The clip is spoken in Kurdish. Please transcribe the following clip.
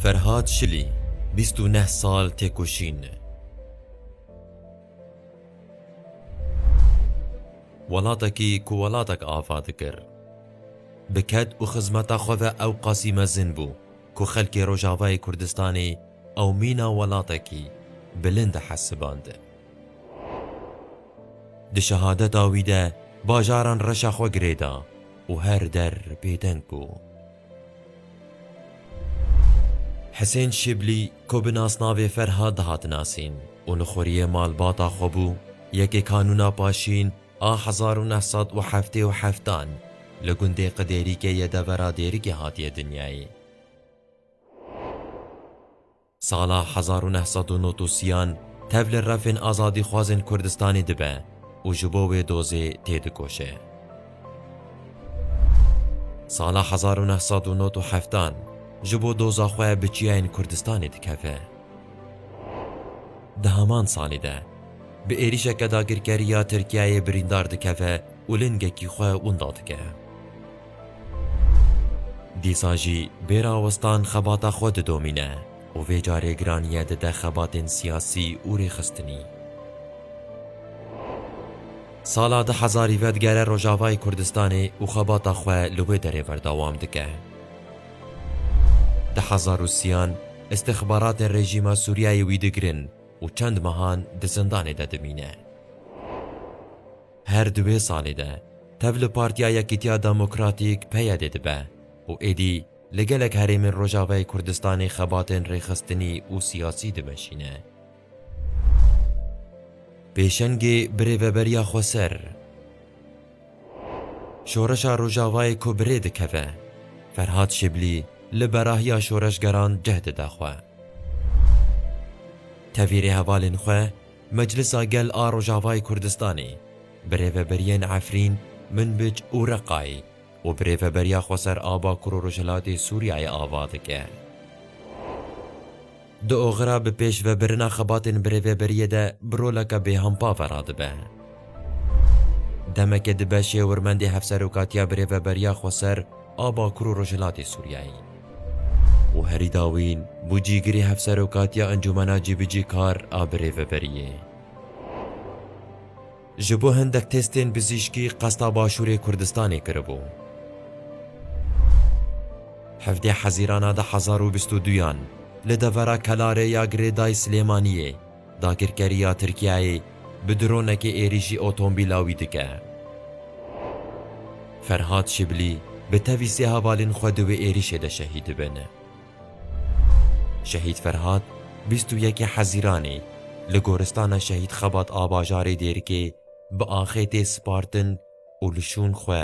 Ferhad Şilî bîst û neh sal têkoşîn. Welatekî ku welatek ava dikir. Bi ked û xizmeta xwe ve ew qasî mezin bû ku xelkê Rojavayê Kurdistanê ew mîna welatekî bilind dihesiband. Di şehadeta wî de bajaran reşa xwe girêda û her der bêdeng bû. Hisên Şiblî ku bi nasnavê Ferhat dihat nasîn û li xwuriyê malbata xwe bû, yekê Kanûna Paşîn a hezar û neh sed û heftê û heft an li gundê Qidêrîkê yê devera Dêrikê hatiye dinyayê. Sala hezar û neh sed û nod û sîyan tev li refên azadîxwazên Kurdistanê dibe û ji bo wê dozê têdikoşe. Sala hezar û neh sed û nod û heftan ji bo doza xwe bi çiyayên Kurdistanê dikeve. Di heman salî de bi êrîşeke dagirkerî ya Tirkiyeyê birîndar dikeve û lingekî xwe winda dike. Dîsa jî bê rawestan xebata xwe didomîne û vê carê giraniye dide xebatên siyasî û rêxistinî. Sala du hezar î ve digere Rojavayê Kurdistanê û xebata xwe li wê derê berdewam dike. Di hezar û siyan îstixbaratên rejîma Sûriyeyê wî digirin û çend mehan di zindanê de dimîne. Her di wê salê de tev li Partiya Yekîtiya Demokratîk, PYD, dibe û êdî li gelek herêmên Rojavayê Kurdistanê xebatên rêxistinî û siyasî dimeşîne. Pêşengê bi rêveberiya xweser Şoreşa Rojavayê ku bi rê dikeve, Ferhad Şiblî li berahiya şoreşgeran cih dide xwe. Tevî rêhevalên xwe Meclisa Gel a Rojavayê Kurdistanê, bi rêveberiyên Efrîn, Minbic û Reqayê û bi rêveberiya Xweser a Bakur û Rojhilatê Sûriyeyê ava dike. Di oxira bi pêş ve birina xebatên bi rêveberiyê de bi roleke bêhampa ve radibe. Demeke di beşê Hêwirmendê Hevserokatiya bi rêveberiya Xweser, a Bakur û Rojhilatê Sûriyeyê. û herî dawîn bû cîgirê Hevserokatiya Encûmena Cîbicîkar a Birêveberiyê. Ji bo hendek testên bizîşkî qesta Başûrê Kurdistanê kiribû. Hevdeh Hezîrana du hezar û bîst û duyan li devera Kelarê ya Girêdayî Silêmaniyê, Dagirkeriya Tirkiyeyê bi dronekê êrîşî otombîla wî dike. Ferhad Şiblî bi tevî sê hevalên xwe di wê êrîşê de şehîd dibin. Şehîd Ferhad bîst û yekê Hezîranê li Goristana Şehîd Xebat a bajarê Dêrikê bi axê tê spartin û li şûn xwe